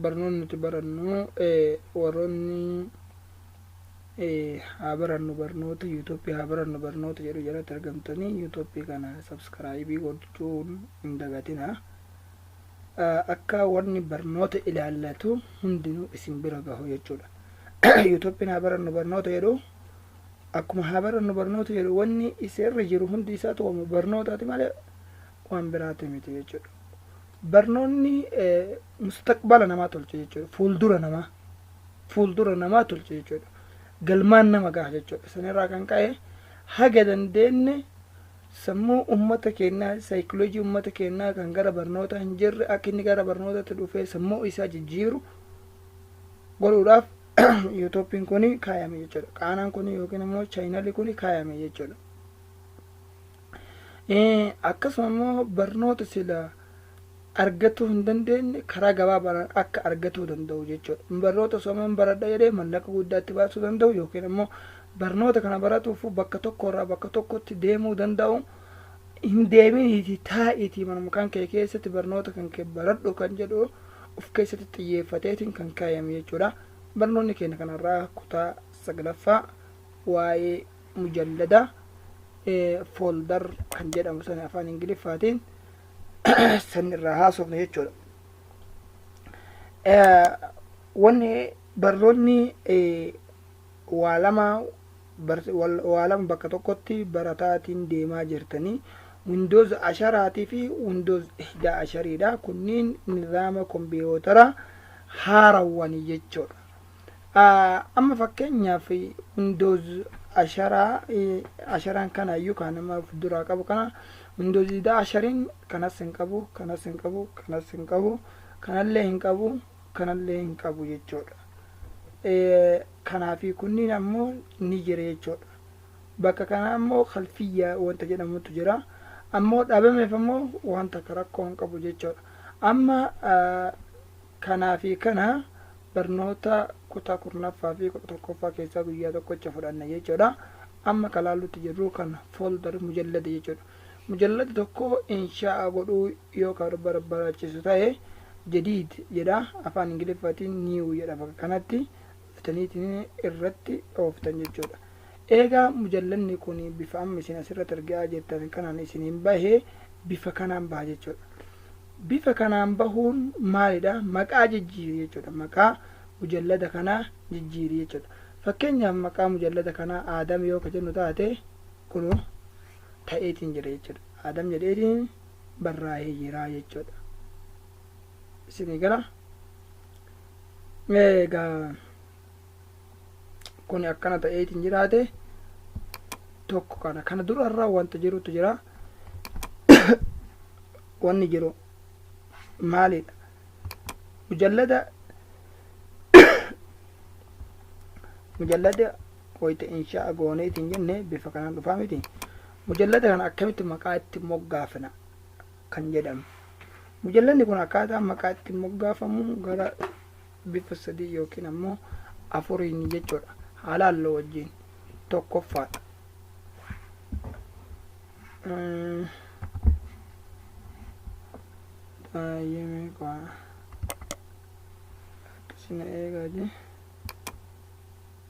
barnoonni nuti barannu warroonni haa barannu barnoota yuutuubii haa barannu barnoota jedhu jalatti argamtanii yuutuubii kana sabskraayibii gochuun hin dagatina akka wanni barnoota ilaallatu hundinuu isin bira gahu jechuudha yuutuubiin haa barannu barnoota jedhu akkuma haa barannu barnoota jedhu wanni isa irra jiru hundi isaatu wama barnootaati malee waan biraati miti jechuudha. Barnoonni eh, mustaqbala namaa tolcha jechuudha. Fuuldura namaa fuuldura namaa tolcha jechuudha. Galmaan nama gaha jechuudha. Sanirraa kan ka'e haga dandeenye sammuu uummata keenyaa saayikoloojii uummata keenyaa kan gara barnootaa hin jirre akka inni gara barnootaatti dhufee sammuu isaa jijjiiru godhuudhaaf yuutuubiin kun kaayame jechuudha qaanaan kun yookiin immoo chaayinalii kun kaayame jechuudha akkasuma immoo barnoota sila argatuu hin dandeenye karaa gabaabaadhaan akka argatuu danda'u jechuudha barnoota sooman baradha jedhee mallaqa guddaatti baasuu danda'u yookiin immoo barnoota kana baratuuf bakka tokkorraa bakka tokkotti deemuu danda'u hin deeminiiti taa'iitii mana mukaan kee keessatti barnoota kan kee baradhu kan jedhu of keessatti xiyyeeffateetiin kan kaayame jechuudha. Barnoonni keenya kanarraa kutaa saglaffaa waa'ee mujallada fooldar kan jedhamu sana afaan ingiliffaatiin san irraa haasofne jechuudha. Wanni barnoonni waa lama waa lama bakka tokkotti barataatiin deemaa jirtanii windows asharaatii fi windows ihdaa ashariidha kunniin nizaama kompiyootara haarawwanii jechuudha amma fakkeenyaaf windows asharaa asharaan kana iyyuu kan nama of duraa qabu kana windows ihdaa ashariin kanas hin qabu kanas hin qabu kanas hin qabu kanallee hin qabu kanallee hin qabu jechuudha. Kanaafi kunniin ammoo ni jira jechuudha. Bakka kana ammoo kalfiyyaa wanta jedhamutu jira. Ammoo dhabameef ammoo waan takka rakkoo hin qabu jechuudha. Amma kanaafi kana barnoota kutaa kurnaffaa fi kudha tokkoffaa keessaa guyyaa tokkocha fudhanna jechuudha. Amma kalaallutti jirru kan folder mujallada jechuudha. Mujallada tokko inshaa'a godhuu yoo ka barbaraachisu tahe, jadiid jedha, afaan Ingiliffaatiin new jedha bakka kanatti, fudhataniitiin irratti dhooftan jechuudha. Eega mujalladni kun bifa amma isin asirratti argaa jirtan kanaan isiniin bahe, bifa kanaan baha jechuudha. Bifa kanaan bahuun maalidha? Maqaa jijjiiri jechuudha. Maqaa mujallada kanaa jijjiiri jechuudha. Fakkeenyaaf maqaa mujallada kanaa Aadam yoo ka jennu taate, kunoo, ta'eetiin jira jechuudha. Aadam jedheetiin barraa'ee jira jechuudha. Isinii gala. Egaa kun akkana ta'eetiin jiraate tokko kana kana durarra wanta jirutu jira. Wanni jiru maalidha? Mujallada mujallada qoyte insha'a goone itin jenne bifa kanan dhufaa miti mujallada kana akkamitti maqaa itti moggaafna kan jedhamu mujallanni kun akkaataa maqaa itti moggaafamu gara bifa sadii yookiin ammoo afuriin jechuudha halaalloo wajjiin tokkoffaa baay'ee meeqaa akkasina eegaa jee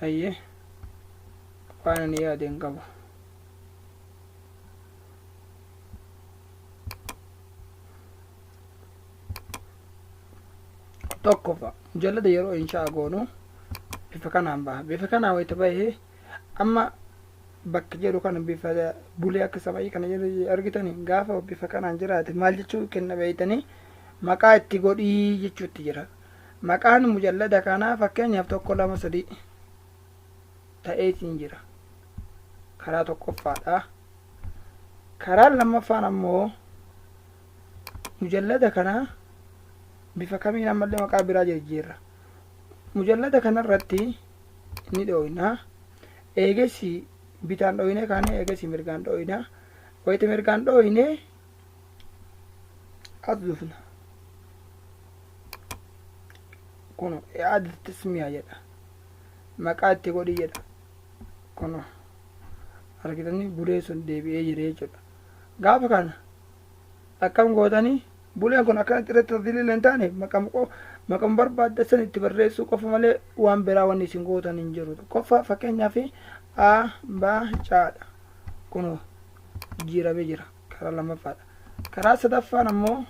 hayyee waan ani yaade hin qabu tokkofa mujallada yeroo inshaa goonu bifa kanaan baha bifa kanaa wayita bahee amma bakka jedhu kana bifa bulee akka sama'ii kana jedhu argitani gaafa bifa kanaan jiraate maal jechuu kenna beeytanii maqaa itti godhii jechuutti jira maqaan mujallada kanaa fakkeenyaaf tokko lama sadii ta'ee siin jira karaa tokkoffaadha karaa lammaffaan ammoo mujallada kanaa bifa kamiin ammallee maqaa biraa jijjiirra mujallada kanarratti ni dhooyna eegessi bitaan dhooynee kaanee eegessi mirgaan dhooyna wayita mirgaan dhooynee as dhufna kun yaada tasmiyaa jedha maqaa itti godhi jedha kun argitanii bulee sun deebi'ee jira jechuudha gaafa kana Akkam gootanii? Buleen kun akkanatti irratti tafdiilii illee hin taaneef maqama qo- maqama barbaadda san itti barreessuu qofa malee waan biraa wanni isin gootan hin jiru. Tokkoffaa fakkeenyaaf a ba caadha. Kunoo jiiramee jira. Karaa lammaffaadha. Karaa sadaffaan ammoo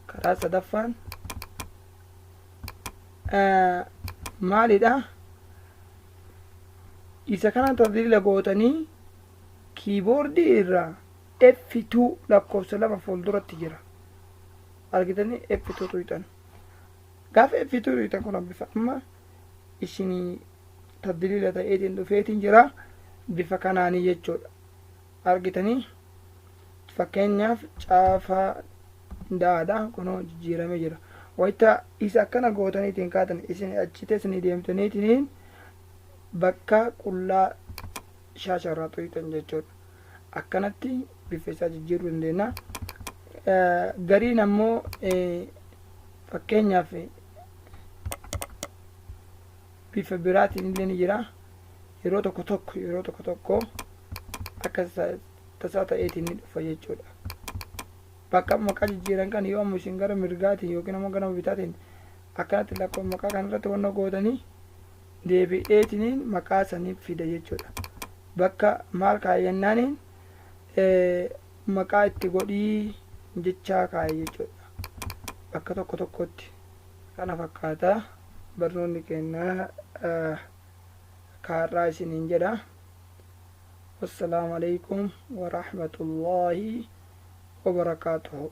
karaa sadaffaan eh, maalidha? Isa kana tafdiila gootanii kiiboordii irraa F2 lakkoofsa 2 fuulduratti jira. Argitanii F2 tuyxan. Gaafa F2 tuyxan kun bifa amma isinii tadliila ta'eetiin dhufeetiin jira. Bifa kanaanii jechuudha. Argitanii fakkeenyaaf caafaa daadha kunoo jijjiiramee jira. Wayita isa akkana gootaniitiin kaatan isin achi teessanii deemtaniitiin bakka qullaa shaasharraa tuyxan jechuudha. akkanatti bifa isaa jijjiiruu dandeenya. Gariin ammoo fakkeenyaaf bifa biraatiin illee ni jira. Yeroo tokko tokko yeroo tokko tokko akka tasaa ta'eetiin ni dhufa jechuudha. Bakka maqaa jijjiiran kan yoo ammoo isin gara mirgaatiin yookiin ammoo gara bitaatiin akkanatti lakkoo maqaa kanarratti wanna gootanii deebi'eetiniin maqaa saniif fida jechuudha. Bakka maal kaa'e jennaaniin maqaa itti godhii jechaa kaa'e jechuudha. Bakka tokko tokkotti. Kana fakkaata barnoonni keenya kaarraa isiniin jedha. Wassalaamu alaikum warahmatullaahi wabarakaatuhu.